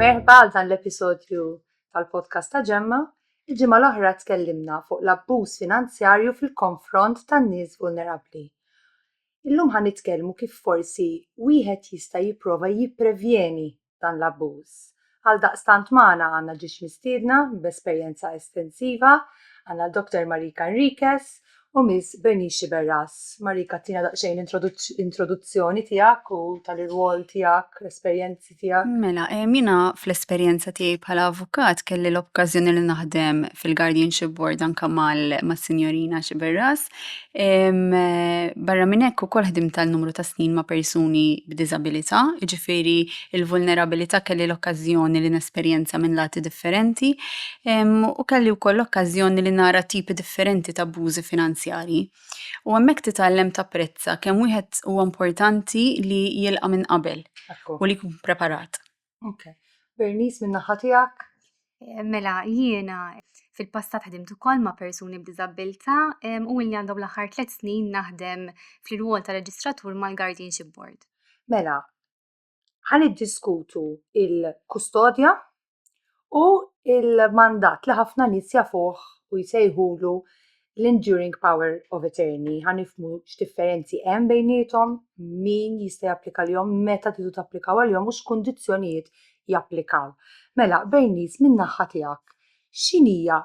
Merħba għal dan l-episodju tal-podcast ta' ġemma. Il-ġimgħa l-oħra tkellimna fuq l-abbuż finanzjarju fil-konfront tan-nies vulnerabbli. Illum ħan nitkellmu kif forsi wieħed jista' jipprova jipprevjeni dan l-abbuż. Għaldaqstant magħna għandna ġiex mistiedna b'esperjenza estensiva, għandna l-Dr. Marika Enriquez u Miss Bernice Sciberras. Marika tina daqsxejn introduzzjoni tiegħek u tal-irwol tiegħek, l-esperjenzi tiegħek. Mela, jiena fl-esperjenza tiegħi bħala avukat kelli l-okkażjoni li naħdem fil-Guardianship Board anke mas-Sinjorina Sciberras Barra minn hekk ukoll ħdimt għal numru ta' snin ma' persuni b'diżabilità, jiġifieri l-vulnerabilità kelli l-okkażjoni li nesperjenza minn lati differenti u kelli wkoll l-okkażjoni li nara tipi differenti ta' abbużi finanzjarji. U hemmhekk titgħallem tapprezza kemm wieħed huwa importanti li jilqa' minn qabel u li jkun preparat. Okay. Bernice minn naħa tiegħek? Eh, mela, jiena fil-passat ħdimt ukoll ma' persuni b'diżabilità u illi għandhom l-aħħar tliet snin naħdem fl-irwol ta' reġistratur mal-Guardianship Board. Mela, ħan diskutu il-kustodja u l-mandat li ħafna nies jafuh u jsejħulu l-enduring power of attorney. Ħa nifmu x'differenzi hemm bejniethom, min jista' japplika l-jom, meta tidu tapplikaw għal-jom u x'kundizzjonijiet japplikaw. Mela, Bernice, min-naħħa tiegħek, x'inhija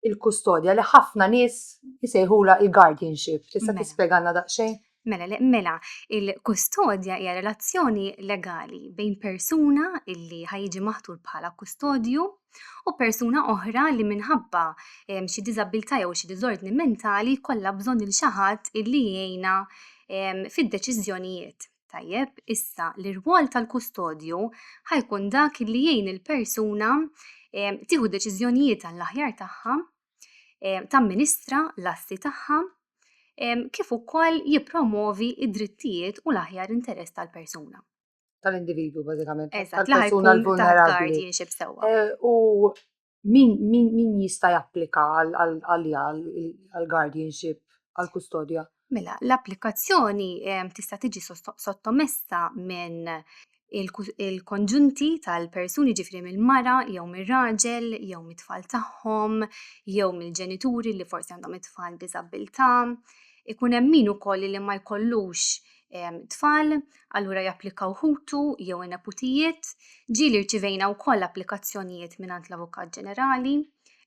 il-kustodja li ħafna nies isejħulha il-guardianship. Tista' mela. tispjegalna daqsxejn? Mela, mela, il-kustodja hija relazzjoni legali bejn persuna illi ħajġi maħtur bħala kustodju u persuna oħra li minħabba ehm, xi diżabilità jew xi diżordni mentali kollha bżonn il xi ħadd illi jgħinha ehm, fid-deċiżjonijiet. Tajjeb, issa l-irwol tal-kustodju ħajkun dak li jgħin il-persuna tieħu deċiżjonijiet għall-aħjar tagħha, tamministra l-assi tagħha, kif ukoll jippromovi id-drittijiet u l-aħjar interess tal-persuna. Tal-individwu, bażikament. Eżatt, tal-persuna l-vulnerabbli. Eh, u min, min, min jista' japplika għalija għal-guardianship, għal-kustodja? Mela, l-applikazzjoni tista' tiġi sottomessa minn il-konġunti tal-persuni ġifri mill-mara jew mir-raġel jew mit-tfal tagħhom jew mill-ġenituri li forsi għandhom it-tfal diżabilità. Ikun hemm min ukoll li ma jkollux tfal, allura japplikaw ħutu jew in-neputijiet. Ġieli rċivejna wkoll applikazzjonijiet mingħand l-Avukat Ġenerali,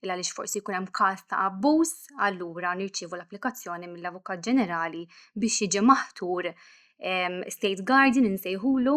il għaliex forsi jkun hemm każ ta' abbuż, allura nirċievu l-applikazzjoni mill-Avukat Ġenerali biex jiġi maħtur state guardian insejħulu.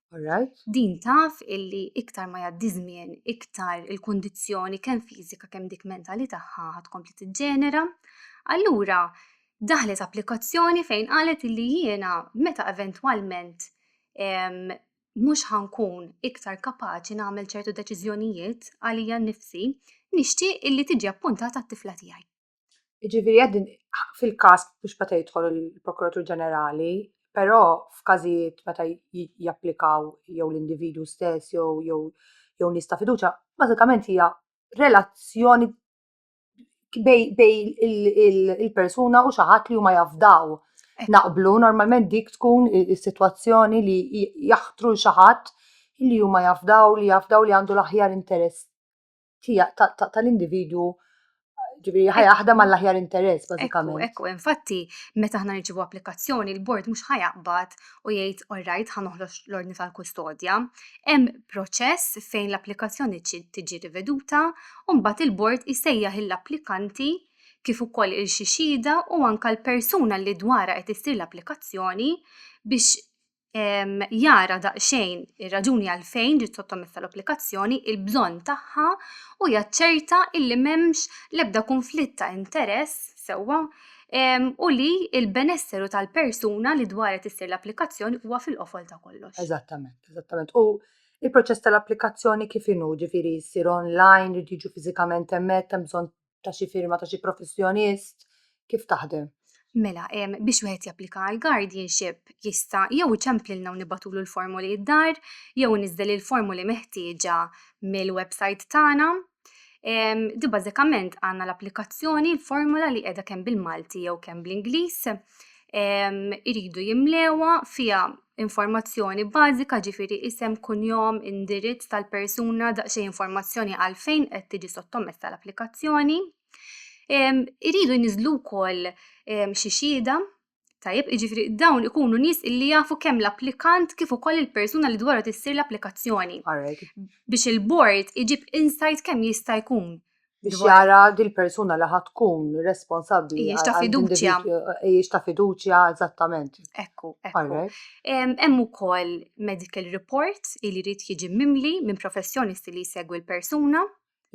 Alright. Din taf illi iktar ma jgħaddi żmien, iktar il-kundizzjoni kemm fiżika kemm dik mentali tagħha ħad kompli tiġġenera. Allura daħlet applikazzjoni fejn qalet illi jiena meta eventwalment mhux ħankun iktar kapaċi nagħmel ċertu deċiżjonijiet għalija nnifsi, nixtieq illi tiġi appuntata t-tifla tiegħi. Jiġifieri qed fil-każ biex meta jidħol il-Prokuratur Ġenerali, però f'każijiet meta japplikaw jew l-individwu stess jew jew jew nies ta' fiduċja, bażikament hija relazzjoni bejn il-persuna u xi ħadd li huma jafdaw. Naqblu normalment dik tkun is-sitwazzjoni li jaħtru l xi ħadd li huma jafdaw li jafdaw li għandu l-aħjar interess tal-individwu ġifieri ħajaħdem għall-aħjar interess bażikament. Ekku, infatti, meta aħna nirċivu applikazzjoni, il-bord mhux ħajaqbad u jgħid all right ħa noħloġ l-ordni tal-kustodja. Hemm proċess fejn l-applikazzjoni tiġi riveduta u mbagħad il-bord isejjaħ l-applikanti kif ukoll il-xixida u anka l-persuna li dwara qed issir l-applikazzjoni biex jara daqsxejn ir-raġuni għalfejn ġiet sottomessa l-applikazzjoni, il-bżonn tagħha u jaċċerta li m'hemmx l-ebda kunflitt ta' interess sewwa u li l-benesseri tal-persuna li dwarha qed issir l-applikazzjoni huwa fil-qofol ta' kollox. Eżattament, eżattament. U il-proċess tal-applikazzjoni kif inhu, ġifieri jsir online, irid jiġu fiżikament hemmhekk, hemm bżonn ta' xi firma ta' xi professjonist? Kif taħdem? Mela, biex wieħed japplika għal guardianship jista' jew iċemplilna u nibatulu l-formoli id-dar, jew niżdel il-formoli meħtieġa mill-website tagħna. Di bażikament għandna l-applikazzjoni, l-formula li qiegħda kemm bil-Malti jew kemm bl-Ingliż. iridu jimlewha fiha informazzjoni bażika jiġifieri isem, kunjom, indirizz tal-persuna, daqsxejn informazzjoni għalfejn qed tiġi sottomessa l-applikazzjoni. Iridu jniżżlu wkoll xi xhieda, tajjeb, jiġifieri dawn ikunu nies li jafu kemm l-applikant kif ukoll il-persuna li dwarha tissir l-applikazzjoni. Għarek. Biex il-bord iġib insight kemm jista' jkun biex jara dil persuna li ħad tkun responsabbli. Ejjex ta' fiduċja. Ejjex ta' fiduċja, eżattament. Ekku, ekku. Hemm ukoll medical report li jrid jiġi mimli minn professjonist li jsegwi l-persuna.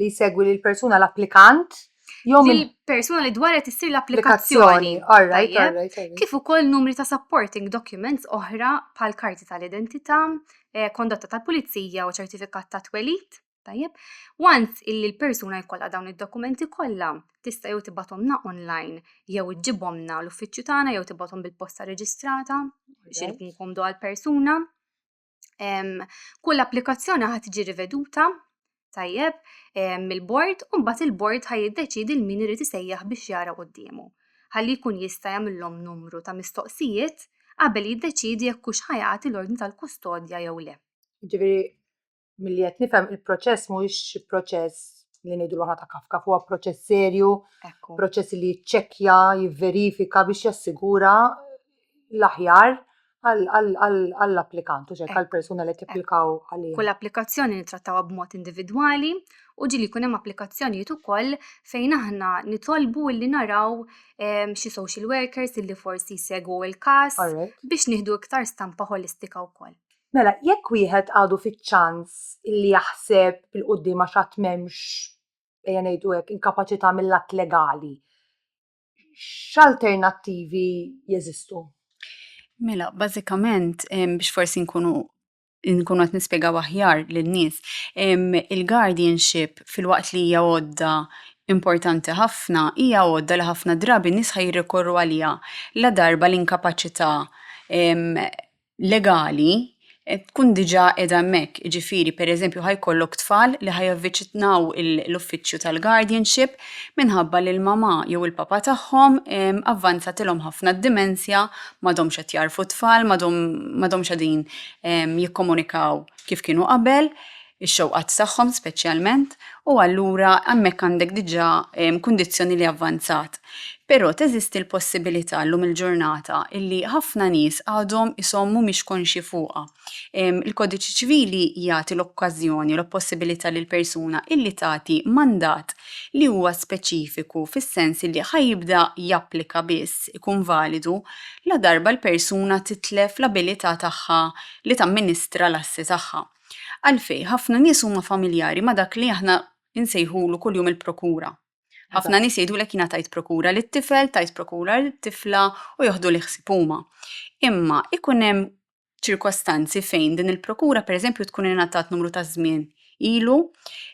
Li jsegwi l-persuna l-applikant. Jom il-persuna li dwaret issir l-applikazzjoni. Kif ukoll numri ta' supporting documents oħra bħal karti tal-identità, eh, kondotta tal-pulizija u ċertifikat ta' twelid. Tajjeb, once illi l-persuna jkollha dawn id-dokumenti kollha, tista' jew tibgħathomna online jew iġġibhomna l-uffiċċju tagħna jew tibgħathom bil-posta reġistrata biex ikun komdu għall-persuna. Kull applikazzjoni ħad tiġi riveduta tajjeb mill-bord u mbagħad il-bord ħaj jiddeċidi l-min irid isejjaħ biex jara quddiemu. Ħalli jkun jista' jagħmilhom numru ta' mistoqsijiet qabel jiddeċidi jekk hux ħajati l-ordni tal-kustodja jew le. Ġifieri milli qed nifhem il-proċess mhuwiex xi proċess li ngħidu aħna ta' kafka, huwa proċess serju, proċess li jiċċekkja, jivverifika biex jassigura l-aħjar għall-applikant, u ċekka l-persuna li t-applikaw għalli. Kull applikazzjoni nittrattawa b'mod individwali u ġili kunem applikazzjonijiet ukoll fejn aħna nitolbu li naraw ehm, xi social workers illi forsi jsegwu il-kas biex nieħdu iktar stampa holistika wkoll. Mela, jekk wieħed għadu fiċ-ċans illi jaħseb 'il quddiem għax għad m'hemmx, ejja ngħidu hekk, inkapaċità mil-lat legali, x'alternattivi jeżistu? Mela, bażikament, biex forsi nkunu nkunu qed nispjegaw aħjar lin-nies, il-guardianship filwaqt li hija għodda importanti ħafna, hija għodda li ħafna drabi n-nies ħa jirrikorru għaliha ladarba l-inkapaċità legali tkun diġà qiegħda hemmhekk, jiġifieri pereżempju ħa jkollok tfal li ħa javviċinaw l-uffiċċju tal-guardianship minħabba li l-mama jew il-papa tagħhom avvanzatilhom ħafna d-dimensja, m'għadhomx qed jagħrfu t-tfal, m'għadhomx qegħdin jikkomunikaw kif kienu qabel. ix-xewqat tagħhom speċjalment, u allura hemmhekk għandek diġà kundizzjoni li avvanzat. Però teżisti l-possibilità llum il-ġurnata li ħafna nies għadhom ishom mhumiex konxji fuqha. Il-Kodiċi Ċivili jagħti l-okkażjoni, l-possibilità lill-persuna illi tagħti mandat li huwa speċifiku fis-sens illi ħa jibda japplika biss, ikun validu, ladarba l-persuna titlef l-abilità tagħha li tamministra l-assi tagħha. Għalfejn, ħafna nies huma familjari ma' dak li aħna nsejħulu kuljum il-prokura. Ħafna nies jgħidulek jiena tajt prokura lit-tifel, tajt prokura lit-tifla u joħdu li ħsieb huma. Imma ikun hemm ċirkostanzi fejn din il-prokura pereżempju tkun ingħatat numru ta' żmien ilu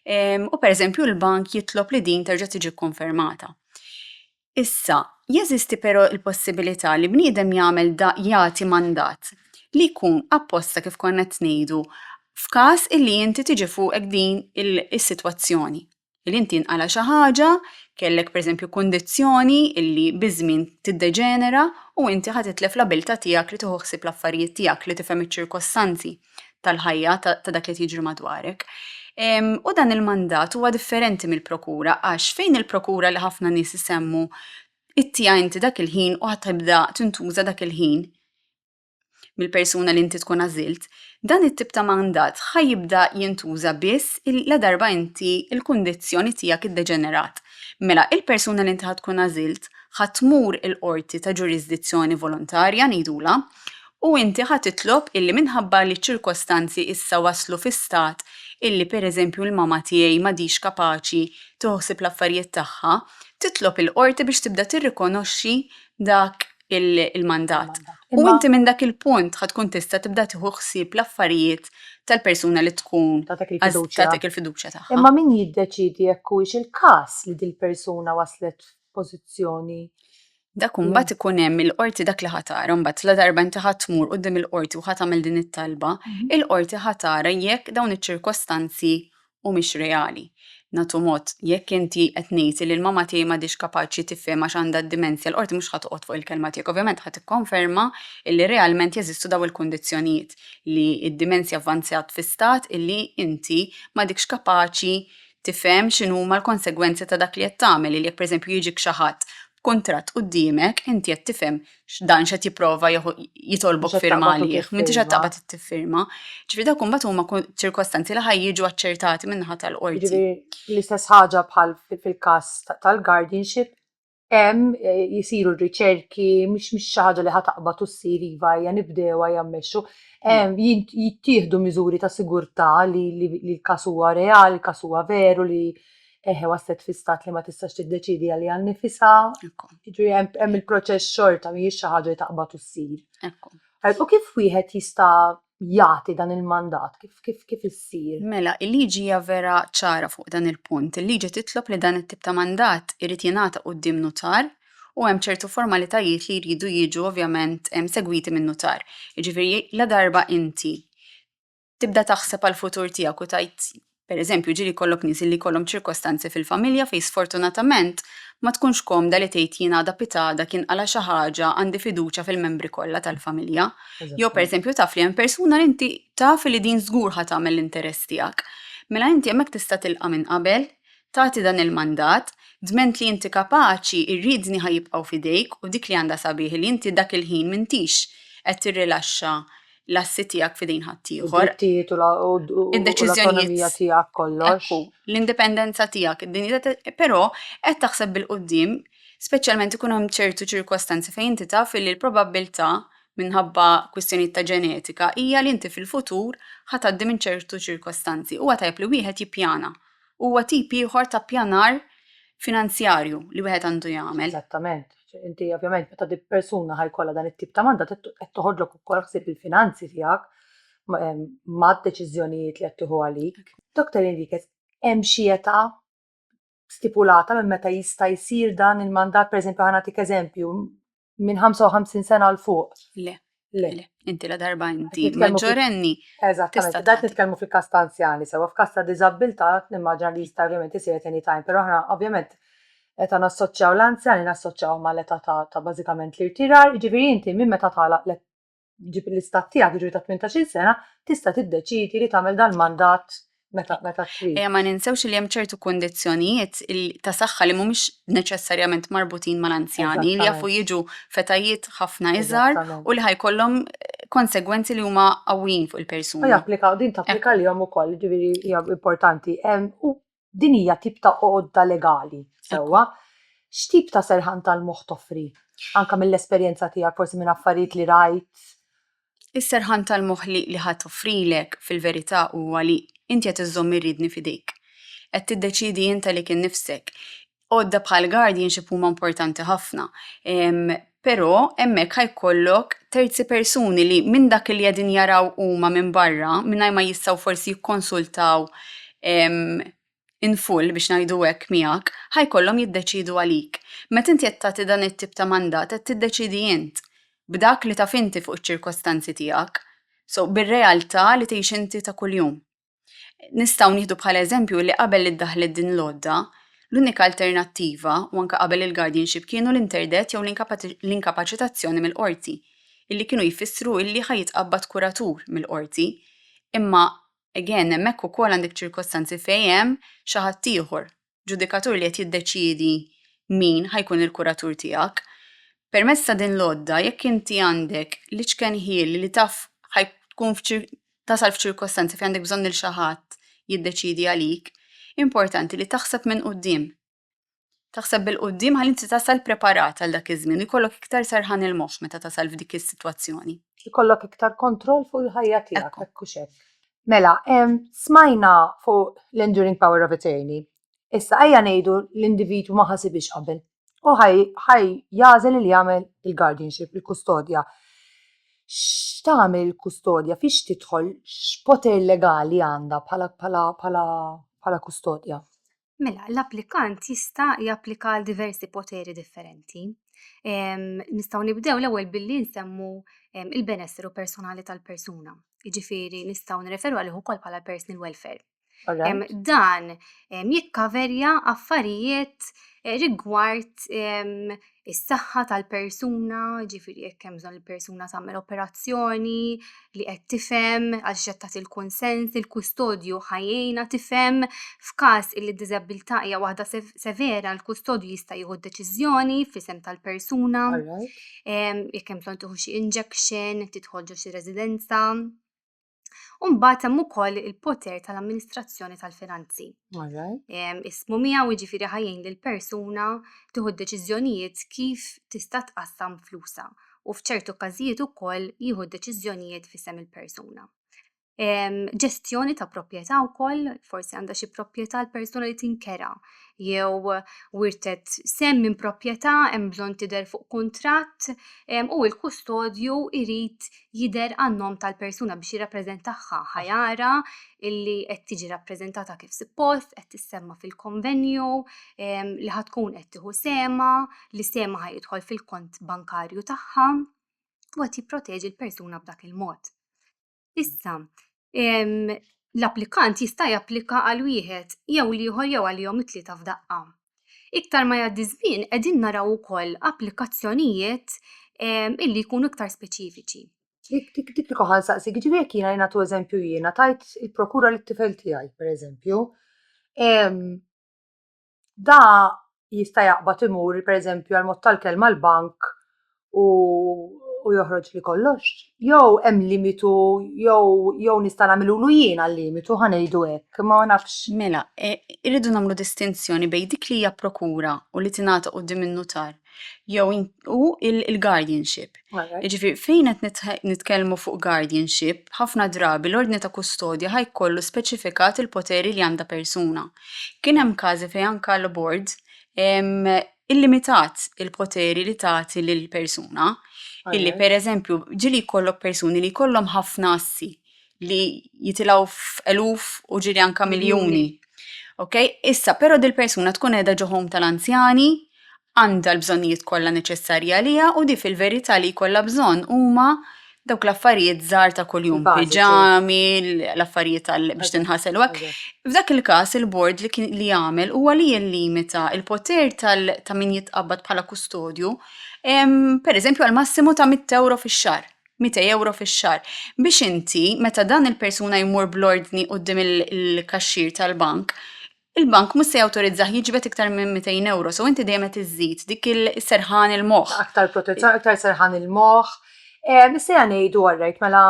ehm, u pereżempju l-bank jitlob li din terġa' tiġi kkonfermata. Issa, jeżisti però l-possibilità li bniedem jagħmel da, jagħti mandat, li jkun apposta kif konna qed ngħidu, f'każ illi inti tiġi fuqek din is-sitwazzjoni, li inti nqala' xi ħaġa, kellek pereżempju kundizzjoni illi biż-żmien tiddeġenera u inti ħa titlef l-abiltà tiegħek li tieħu ħsieb l-affarijiet tiegħek, li tifhem iċ-ċirkostanzi. tal-ħajja ta' dak li jiġri madwarek. U dan il-mandat huwa differenti mill-prokura għax fejn il-prokura li ħafna nies isemmu ittija inti dak il-ħin u ħatibda tintuża dak il-ħin mill-persuna li inti tkun għażilt, dan it-tip ta' mandat ħajibda jintuża biss la darba inti il-kundizzjoni tiegħek iddeġenerat. Mela, il-persuna li inti tkun għażilt ħatmur il-qorti ta' ġurisdizzjoni volontarja ngħidula U inti ħa titlob illi minħabba li ċ-ċirkostanzi issa waslu fi stat illi pereżempju l-mama tiegħi m'għadhiex kapaċi tieħu ħsieb l-affarijiet tagħha, titlob il-Qorti biex tibda tirrikonoxxi dak il-mandat. U inti minn dak il-punt ħa tkun tista' tibda tieħu ħsieb l-affarijiet tal-persuna li tkun tatek il-fiduċja tagħha. Imma min jiddeċiedi jekk huwiex il-każ li dil-persuna waslet f'pożizzjoni Dak mm. mbagħad ikun hemm il-qorti dak li ħatara, mbagħad la darba inti ħadd tmur qudiem il-qorti u ħadd tagħmel din it-talba, mhm. il-qorti ħatara jekk dawn iċ-ċirkostanzi mhumiex reali. Natu mod, jekk inti qed ngħid li l-mama tiegħi m'għadix kapaċi tifhem għax għandha d-dimensja l-qorti mhux ħadd fuq il-kelma tiegħek, ovvjament ħadd ikkonferma li realment jeżistu daw il-kundizzjonijiet li d-dimensja avvanzjat fi stat illi inti m'għadikx kapaċi tifhem x'inhuma l-konsegwenzi ta' dak li qed tagħmel, li jekk pereżempju jiġik xi ħadd b'kuntratt quddiemek, inti qed tifhem x'dan x'qed jipprova jitolbok firma għalih, m'intix qed taqbad tiffirma. Ġifieri dawk imbagħad huma ċirkostanzi li ħa jiġu aċċertati min-naħa tal-qorti. L-istess ħaġa bħal fil-każ tal-guardianship, hemm jisiru r-riċerki, mhix mhix xi ħaġa li ħa taqbad u ssir iva hija nibdew hija mmexxu. Hemm jint- jittieħdu miżuri ta' sigurtà li li li l-każ huwa reali, l-każ huwa veru li eħe waslet fi stat li ma tistax tiddeċiedi għaliha nnifisha. Ekku. Jiġifieri hemm hemm il-proċess xorta, mhijiex xi ħaġa li taqbad u ssir. Ekku. U kif wieħed jista' jagħti dan il-mandat, kif, kif, kif issir? Mela, il-liġi hija vera ċara fuq dan il-punt. Il-liġi titlob li dan it-tip ta' mandat irid jingħata quddiem nutar u hemm ċertu formalitajiet li jridu jiġu ovvjament segwiti minn nutar. Jiġifieri la darba inti tibda taħseb għall-futur tiegħek u tajt Pereżempju, ġieli jkollok nies illi jkollhom ċirkostanzi fil-familja fejn sfortunatament ma tkunx komda li tgħid jien għada pitada kien qala' xi ħaġa għandi fiduċja fil-membri kollha tal-familja. Jew pereżempju taf li hemm persuna li inti taf li din żgur ħa tagħmel l-interess tiegħek. Mela inti hemmhekk tista' tilqa' minn qabel, tagħti dan il-mandat, dment li inti kapaċi, ir-riedni ħa jibqgħu f'idejk u dik li għandha sabiħ li inti dak il-ħin m'intix qed tirrilaxxa l-assi tiegħek f'idejn ħaddieħor. Id-drittijiet u l-ekonomija tiegħek kollox. L-indipendenza tiegħek, id-dinjità però qed taħseb bil-qudiem, speċjalment ikun hemm ċertu ċirkostanzi fejn inti taf li l-probabbiltà minħabba kwistjonijiet ta' ġenetika hija li inti fil-futur ħatgħaddi minn ċertu ċirkostanzi. Huwa tajjeb li wieħed jippjana huwa tip ieħor ta' ppjanar finanzjarju li wieħed għandu jagħmel. Eżattament. Inti ovvjament meta di persuna ħajkollha dan it-tip ta' mandat qed toħodlok ukoll ħsieb il-finanzi tiegħek ma' deċiżjonijiet li qed tieħu għalik. Dr. Enriquez, hemm xi età stipulata minn meta jista' jsir dan il-mandat, pereżempju ħa nagħtik eżempju, minn 55 sena l fuq. Le. Le. Le. Inti la darba inti maġġorenni. Eżattament, dat nitkellmu fil-kas ta' anzjani, sewa f'kas ta' diżabilità nimmaġina li jista' ovvjament isir at any time, però aħna ovvjament meta nassoċjaw l-anzjani nassoċjaw mal-età ta' bażikament l-irtirar, jiġifieri inti minn meta tagħlaq ġib l-istat tiegħek jiġri ta' 18-il sena, tista' tiddeċidi li tagħmel dal-mandat meta meta trid. Ejja ma ninsewx li hemm ċertu kundizzjonijiet il- ta' saħħa li mhumiex neċessarjament marbutin mal-anzjani li Eżattament. jafu jiġu fetajiet ħafna iżgħar Eżattament. u li ħajkollhom konsegwenzi li huma qawwijin fuq U il-persuna. japplika, din tapplika lihom ukoll, ġifieri hija importanti. Em, U din hija tip ta' għodda legali sewwa. X'tip ta' serħan tal-moħħ toffri? Anke mill-esperjenza tiegħek, forsi minn affarijiet li rajt? Is-serħan tal-moħħ li li ħadd offrilek, fil-verità, huwa li inti qed iżżomm ir-riedni f'idejk. Qed tiddeċiedi int għalik innifsek. għodda bħal guardianship huma importanti ħafna. Però hemmhekk ħa jkollok terzi persuni li minn dak li qegħdin jaraw huma minn barra, mingħajr ma jistgħu forsi jikkonsultaw in full biex ngħidu hekk miegħek, ħa jkollhom jiddeċiedu għalik. Meta inti qed tagħti dan it-tip ta' mandat qed tiddeċiedi int, b'dak li taf inti fuq iċ-ċirkostanzi tiegħek, so bir-realtà li tgħix inti ta' kuljum. Nistgħu nieħdu bħala eżempju li qabel li ddaħħlet din l-għodda, l-unika alternattiva u anke qabel il-guardianship kienu l-interdet jew l-inkapaċitazzjoni mill-qorti, illi kienu jfissru illi ħa jitqabbad kuratur mill-qorti. Imma again hemmhekk ukoll għandek ċirkostanzi fejn hemm xi ħadd ieħor ġudikatur li qed jiddeċiedi min ħajkun il-kuratur tiegħek. Permezz ta' din l-għodda, jekk inti għandek l-iċken ħiel li taf tkun tasal f'ċirkostanzi fejn għandek bżonn il xi ħadd jiddeċiedi għalik, importanti li taħseb minn qudiem. Taħseb bil-qudiem ħalli inti tasal preparat għal dak iż-żmien, ikollok iktar serħan il-moħħ meta tasal f'dik is-sitwazzjoni. Ikollok iktar kontroll fuq il-ħajja tiegħek, hekk u xek. Mela, smajna fuq l-enduring power of attorney. Issa ejja ngħidu l-individwu ma ħasibiex qabel. U ħaj jażel li jagħmel il-guardianship, il-kustodja. X'tagħmel il-kustodja? Fiex tidħol? X'poter legali għandha bħala kustodja? Mela, l-applikant jista' japplika għal diversi poteri differenti. Nistgħu nibdew l-ewwel billi nsemmu il-benessru personali tal-persuna. Jiġifieri nistgħu nirreferu għalih ukoll bħala personal welfare. Dan jikkaverja affarijiet eh, rigward is-saħħa tal-persuna, ġifiri jekk hemm bżonn il-persuna tagħmel operazzjoni li qed tifhem għax qed tagħti l-kunsens, il-kustodju ħajjejna tifhem f'każ li d-diżabilità hija waħda severa, l-kustodju jista' jieħu deċiżjoni f'isem tal-persuna. Jekk hemm bżonn tieħu xi injection, tidħol ġo xi residenza. U mbagħad hemm ukoll il-poter tal-amministrazzjoni tal-finanzi. Ismu miegħu jiġifieri ħajjin lil persuna tieħu deċiżjonijiet kif tista' tqassam flusa u f'ċertu każijiet ukoll jieħu deċiżjonijiet f'isem il-persuna. Ġestjoni ta' proprjetà wkoll, forsi għandha xi proprjetà l-persuna li tinkera jew wirtet sem minn proprjetà hemm bżonn tidher fuq kuntratt u l-kustodju jrid jidher għan-nom tal-persuna biex jirrappreżentahha, ħa jara li qed tiġi rappreżentata kif suppost, qed tissemma fil-konvenju, li ħa tkun qed tieħu sehemha, li sehemha ħa jidħol fil-kont bankarju tagħha u qed jipproteġi l-persuna b'dak il-mod. Issa, l-applikant jista' japplika għal wieħed jew l-ieħor jew għalihom it-tlieta f'daqqa. Iktar ma jgħaddi żmien qegħdin naraw ukoll applikazzjonijiet ehm, illi jkunu iktar speċifiċi. Dik dik li koħal saqsik, ġifieri jekk jiena jingħatu eżempju jiena tajt il-prokura lit-tifel tiegħi, pereżempju, ehm, da jista' jaqbad imur pereżempju għal mod tal-kelma l-bank u u joħroġli kollox, jew hemm limitu jew jew nista' nagħmilulu jien għal-limitu ħa ngħidu hekk, ma nafx. Mela, irridu nagħmlu distinzjoni bejn dik li hija prokura u li tingħata quddiem in-nutar. jew u il-guardianship. Jiġifieri fejn qed nitkellmu fuq guardianship, ħafna drabi l-ordni ta' kustodja ħaj kollu speċifikat il-poteri li għandha persuna. Kien hemm każi fejn anke l-bord illimitat il-poteri li tagħti lill-persuna, illi pereżempju ġieli jkollok persuni li jkollhom ħafna assi, li jitilgħu f'eluf u ġili anka miljuni. Ok, issa però dil-persuna tkun qiegħda ġo home tal-anzjani, għandha l-bżonnijiet kollha neċessarji għaliha u di fil-verità li jkollha bżonn huma dawk l-affarijiet żgħar ta' kuljum, Bażiċi. piġami, l- l-affarijiet għal biex tinħasel u hekk. Eżatt. F'dak il-każ il-bord li kien li jagħmel huwa li jillimita l-poter tal ta' min jitqabbad bħala kustodju, em, pereżempju għal massimu ta' 100 euro fix-xahar. mitej ewro fix-xahar. Biex inti, meta dan il-persuna jmur bl-ordni quddiem il-kaxxier tal-bank, il-bank mhux se jawtorizzah jiġbed iktar minn mitejn ewro, so inti dejjem qed iżżid dik is-serħan il-moħħ. Aktar protezzjoni, aktar serħan il-moħħ. Missejja ngħidu, orrejt, mela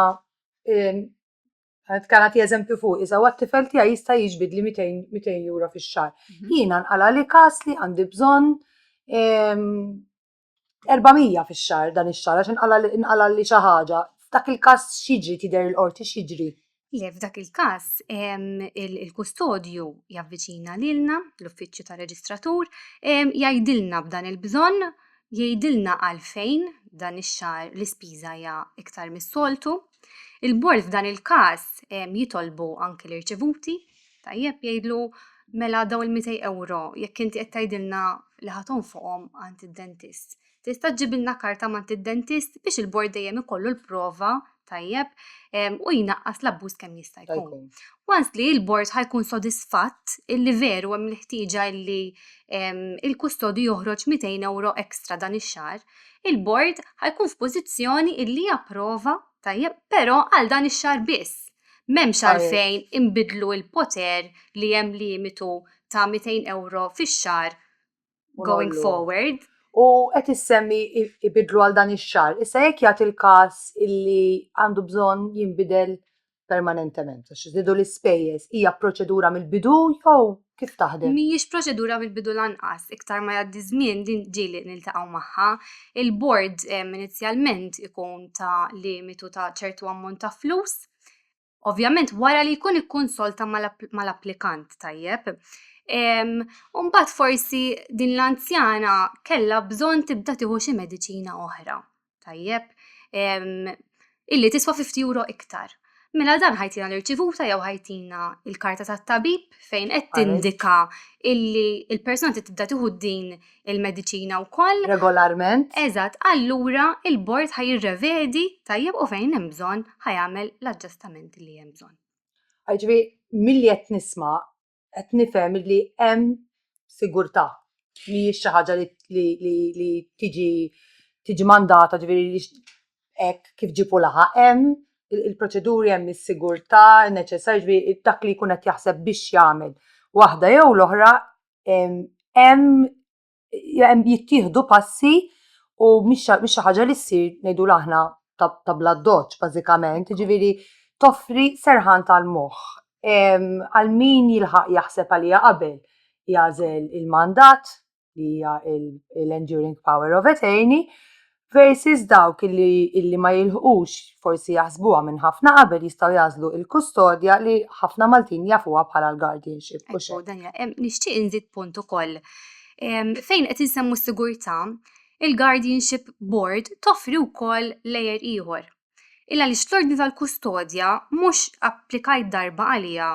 Għad kan għati eżempju fuq, iżaw għat-tifel tija jista jiġbid li 200 euro fi xar. Mhm. Jina nqala li kas li għandi bżon ehm, 400 fix-xahar dan ix-xahar għax inqala' li inqala' li xi ħaġa, f'dak il-każ x'jiġri tidher il-qorti x'jiġri? Le f'dak il-każ ehm, il- il-kustodju javviċina lilna, l-uffiċċju tar-reġistratur, ehm, jgħidilna b'dan il-bżonn, jgħidilna għalfejn dan ix-xahar l-ispiża hija iktar mis-soltu. Il-bord f'dan il-każ ehm, jitolbu anki l-irċevuti. Tajjeb jgħidlu mela daw il-200 euro jekk inti qed tgħidilna li ħaton fuqhom għand id-dentist. Tista' ġibilna karta mant id-dentist biex il-bord dejjem ikollu l-prova tajjeb u jnaqqas l-abbuż kemm jista' jkun. Once li l-bord ħajkun sodisfatt illi veru hemm l-ħtieġa illi il-kustodi joħroġ 200 euro ekstra dan ix-xahar, il-bord ħajkun f'pożizzjoni illi japprova tajjeb però għal dan ix-xahar biss M'hemmx għalfejn inbiddlu l-poter li hemm limitu ta' 200 ewro fix-xahar going forward. U qed issemmi ibiddlu għal dan ix-xahar. Issa jekk jagħti l-każ illi għandu bżonn jinbidel permanentement għax żdiedu l-ispejjeż, hija proċedura mill-bidu jew kif taħdem. Mhijiex proċedura mill-bidu lanqas, iktar ma jgħaddi żmien din ġieli niltaqgħu magħha. Il-bord ehm, inizjalment ikun ta' limitu ta' ċertu ammont ta' flus, ovvjament wara li jkun ikkonsolta mal-applikant tajjeb. Ehm, Umbagħad forsi din l-anzjana kellha bżonn tibda tieħu xi mediċina oħra. tajjeb, illi tiswa 50 euro iktar. Mela dan ħajtina l-irċivuta jew ħajtina il-karta tat tabib fejn qed tindika illi il-persuna tibda tieħu din il-mediċina wkoll. Regolarment. Eżatt, allura il-bord ħaj jirrevedi tajjeb u fejn hemm bżonn ħajamel l-aġġustamenti li hemm bżonn. Ġifieri milli qed nisma' qed nifhem li hemm sigurtà, mhijiex xi ħaġa li tiġi tiġi mandata ġifieri hekk kif ġieb u laħaq. Hemm il-proċeduri, hemm is-sigurtà neċessarja ġifieri dak li jkun qed jaħseb biex jagħmel waħda jew l-oħra hemm jittieħdu passi u mhix xi ħaġa li ssir ngħidu aħna ta' bla doċ bażikament, ġifieri toffri serħan tal-moħħ. Għal min jilħaq jaħseb għalija qabel jagħżel il-mandat li hija l-enduring power of attorney versus dawk illi, illi ma jilħqux, forsi jaħsbuha minn ħafna qabel, jistgħu jagħżlu l-kustodja li ħafna Maltin jafuha bħala l-guardianship. u xi. Ekku, dan ja- em, nixtieq inżid punt ukoll. Em, Fejn qed insemmu s-sigurtà, il-Guardianship Board toffri wkoll lejer ieħor. Illa li l-ordni tal-kustodja mhux applikajt darba għaliha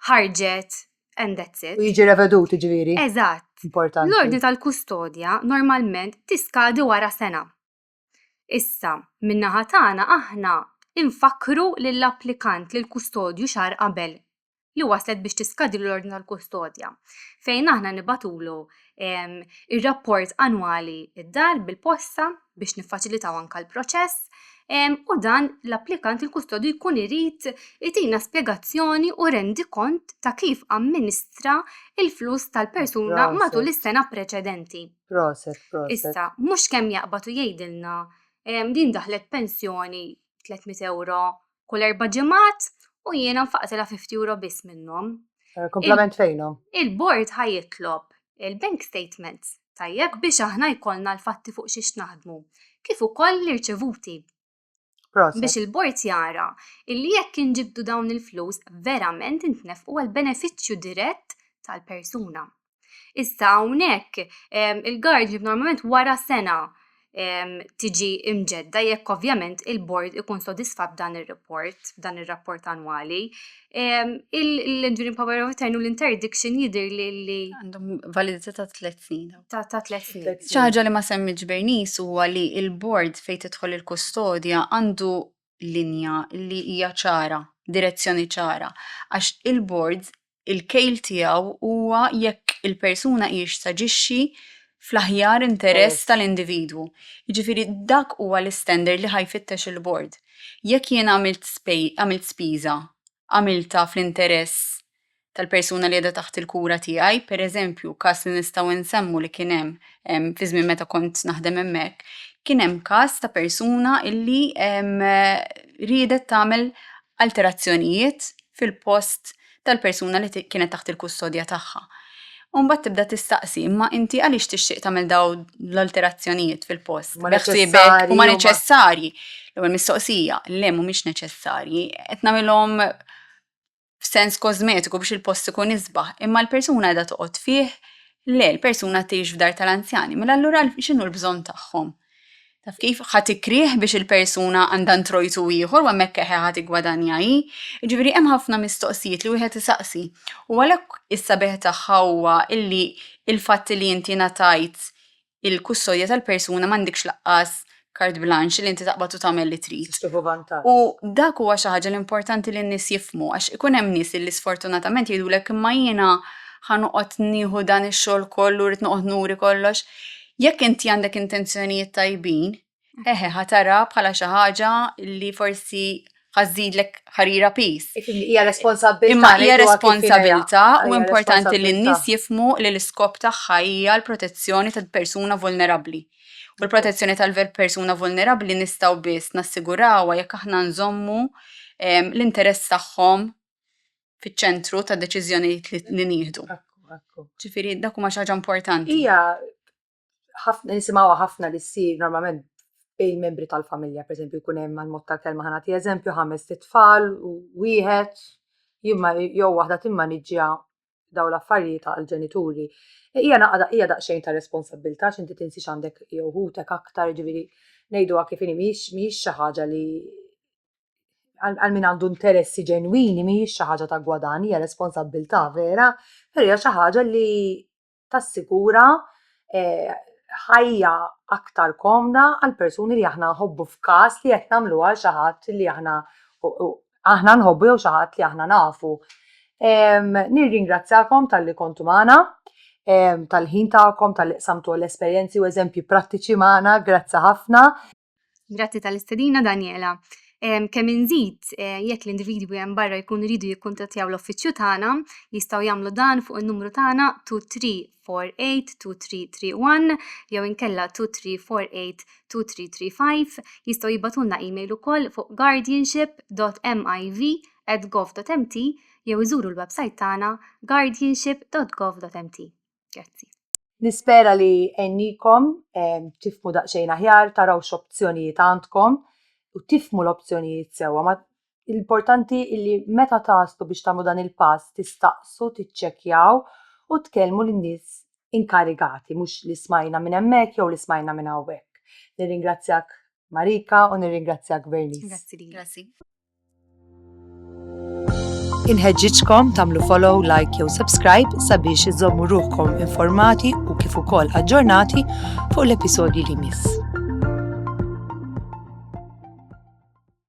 ħarġet and that's it. U jiġi revedut ġviri. Eżatt. Importanti. L-ordni tal-kustodja normalment tiskadi wara sena. Issa, minna ħatana aħna infakru lill-applikant li l-kustodju xar qabel li waslet biex tiskadi l-ordni tal-kustodja fejn aħna nibatulu ir-rapport annwali id-dar bil-posta biex niffaċilitaw anka l-proċess u dan l-applikant il-kustodju jkun irid itina spjegazzjoni u rendi kont ta' kif amministra il-flus tal-persuna matul is-sena preċedenti. Proset, proset. Issa, mhux kemm jaqbad u jgħidilna din daħlet pensjoni 300 euro kull erba' ġimgħat u jiena nfaqtilha 50 euro biss minnhom. Eh, Komplement fejnhom. Il-bord ħajitlob il-bank statement tajjeb biex aħna jkollna l-fatti fuq xiex naħdmu, kif ukoll l-irċevuti. Biex il-bord jara illi jekk inġibdu dawn il-flus verament intnefqu għal benefiċċju dirett tal-persuna. Issa hawnhekk il-guardianship normalment wara sena tiġi imġedda jekk ovvjament il-bord ikun sodisfatt dan ir-report, dan ir-rapport annwali. L-enduring power of attorney u l-interdiction jidir li għandhom validità ta' tliet snin. Ta' tliet snin. ċaġa li ma semmiġ Bernice huwa li il-bord fejn tidħol il-kustodja għandu linja li hija ċara, direzzjoni ċara, għax il-bord il-kejl tiegħu huwa jekk il-persuna hijiex taġixxi fl-aħjar interess tal-individwu. Jiġifieri dak huwa l-istandard li ħa jfittex il-bord. Jekk jien għamilt spiża għamiltha fl-interess tal-persuna li qiegħda taħt il-kura tiegħi, pereżempju każ li nistgħu nsemmu li kien hemm ehm, fi żmien meta kont naħdem hemmhekk, kien hemm każ ta' persuna illi ehm, riedet tagħmel alterazzjonijiet fil-post tal-persuna li kienet taħt il-kustodja tagħha. U mbagħad tibda tistaqsi, imma inti għaliex tixtieq tagħmel daw l-alterazzjonijiet fil-post? Ma neċessarji. Ma neċessarji. L-ewwel mistoqsija, le mhumiex neċessarji, qed nagħmilhom f'sens kosmetiku biex il-post ikun isbaħ, imma l-persuna qiegħda toqgħod fih, le l-persuna tgħix f'dar tal-anzjani, mela allura x'inhu l-bżonn tagħhom? Taf kif? Ħadd ikrieh biex il-persuna għandha ntrojtu ieħor u hemmhekk eħe ħadd iggwadanja hi. Jiġifieri hemm ħafna mistoqsijiet li wieħed isaqsi. U għalhekk is-sabiħ tagħha huwa illi l-fatt li inti ngħatajt il-kustodja tal-persuna m'għandekx laqqas carte blanche li inti taqbad u tagħmel li trid. Tixtieħu vantaġġ. U dak huwa xi ħaġa li importanti li n-nies jifhmu għax ikun hemm nies li sfortunatament jgħidulek imma jiena ħa noqgħod nieħu dan ix-xogħol kollu, rrid noqgħod nuri kollox. Jekk inti għandek intenzjonijiet tajbin, eħe ħa tara bħala xi ħaġa li forsi ħażidlek ħarira pis. Hija responsabilità. Imma hija responsabilità u importanti li n-nies jifmu li l-iskop tagħha hija l-protezzjoni tal-persuna vulnerabbli. U l-protezzjoni tal-persuna vulnerabbli nistgħu biss nassigurawha jekk aħna nżommu ehm, l-interess tagħhom fiċ-ċentru ta' deċiżjonijiet li nieħdu. Ġifieri dak huma xi ħaġa importanti. Hija ħafna nisimgħuha ħafna li ssir normalment bejn membri tal-familja, pereżempju jkun hemm għal mod tal-kelma ħana ti eżempju ħames tfal u wieħed jimma jew waħda timmaniġġja daw l-affarijiet għall-ġenituri. Hija naqda hija daqsxejn ta' responsabilità x'inti tinsix għandek jew ħutek aktar ġifieri ngħiduha kif inhi mhix xi ħaġa li għal min għandu interessi ġenwini mhijiex xi ħaġa ta' gwadann, hija responsabbiltà vera, però hija xi ħaġa li tassigura eh ħajja aktar komda għall-persuni li aħna nħobbu f'każ li qed nagħmluha għal xi ħadd li aħna aħna nħobbu jew xi ħadd li aħna nafu. Ehm nirringrazzjakom talli kontu magħna, tal-ħin tagħkom, talli qsamtu l-esperjenzi u eżempji prattiċi magħna, grazzi ħafna. Grazzi tal-istedina Daniela. Kemm inżid eh, jekk l-individwi hemm barra jkun iridu jikkuntattjaw l-uffiċċju tagħna, jistgħu jagħmlu dan fuq in-numru tagħna 23482331 jew inkella 23482335 jistgħu jibatulna email ukoll fuq guardianship.miv@gov.mt jew iżuru l-website tagħna guardianship.gov.mt. Grazzi. Nispera li għennikom tifmu daqsxejn aħjar, taraw x'opzjonijiet għandkom u tifmu l-opzjonijiet sewwa. Ma l-importanti illi meta taslu biex tagħmlu dan il-pass tistaqsu, tiċċekkjaw u tkellmu lin-nies inkarigati, mhux li smajna minn hemmhekk jew li smajna minn hawnhekk. Nirringrazzjak Marika u nirringrazzjak Vernice. Grazzi. Inħeġġiġkom tagħmlu follow, like jew subscribe sabiex iżommu ruħkom informati u kif ukoll aġġornati fuq l-episodji li miss.